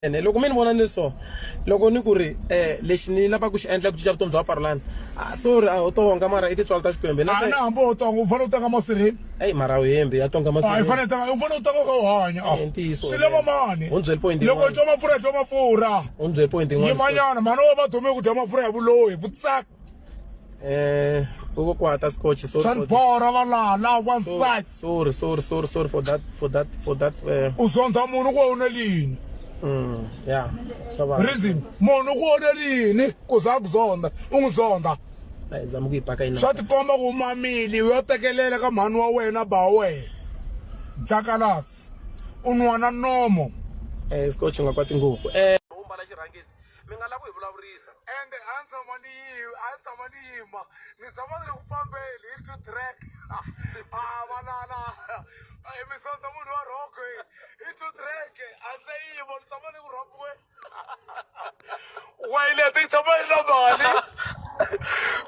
ene loko mi ni vona ni so loko ni ku ri um lexi ni lavaka ku xi endla ku cinca vutomi bya vaparulani ah, sorry a ah, u tonga mara i tintswalo ta xikwembe na ah, hambi u tonga u fanele u tanga masirheni eyi mara uhembi ya tonga masirheni fanele tanga u fanele u tanga ka u hanya swi lava mani u byeli point loko u twa mafurha twa mafurha u byeli point yin'wana yimanyana mhani wa va dome ku dya mafurha ya vulohi vutsaka Eh, koko kwata scotch. Sorry for that. Sanibora balala one Sorry, side. sorry, sorry, sorry, sorry for that, for that, for that. Uh, Uzondha munhu ku wona lini? mm, yeah, shabana. Reason munhu ku wona lini ku za ku zonda. U n'wi zonda. Ai, zama kuipaka ina. Swa tikomba ku mamili u yo tekelela ka mhani wa wena ba wena. Jakalasi. U nwana nomo. Eh, scotch ngakwati ngopfu. Eh, umbala xirhangisi. mi nga lavi ku hi vulavurisa ende a ni tshama ni yima a ni tshama ni yima ni tshama ni ri ku fambeni hi two track a valala emisondza munhu wa rhoko hi two track a ndzi yima ni tshama ni ku rhopiwe wayilete yi tshama yi ri na mali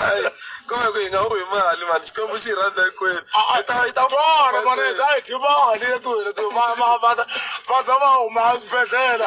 Hayi, kambe ku hi nga wi mali mani xikwembu xi hi rhandza hinkwenu Hi ta- hi ta- twana maneza a hi dyi mali ya tiwena ti va va va va za va huma eswibedhlele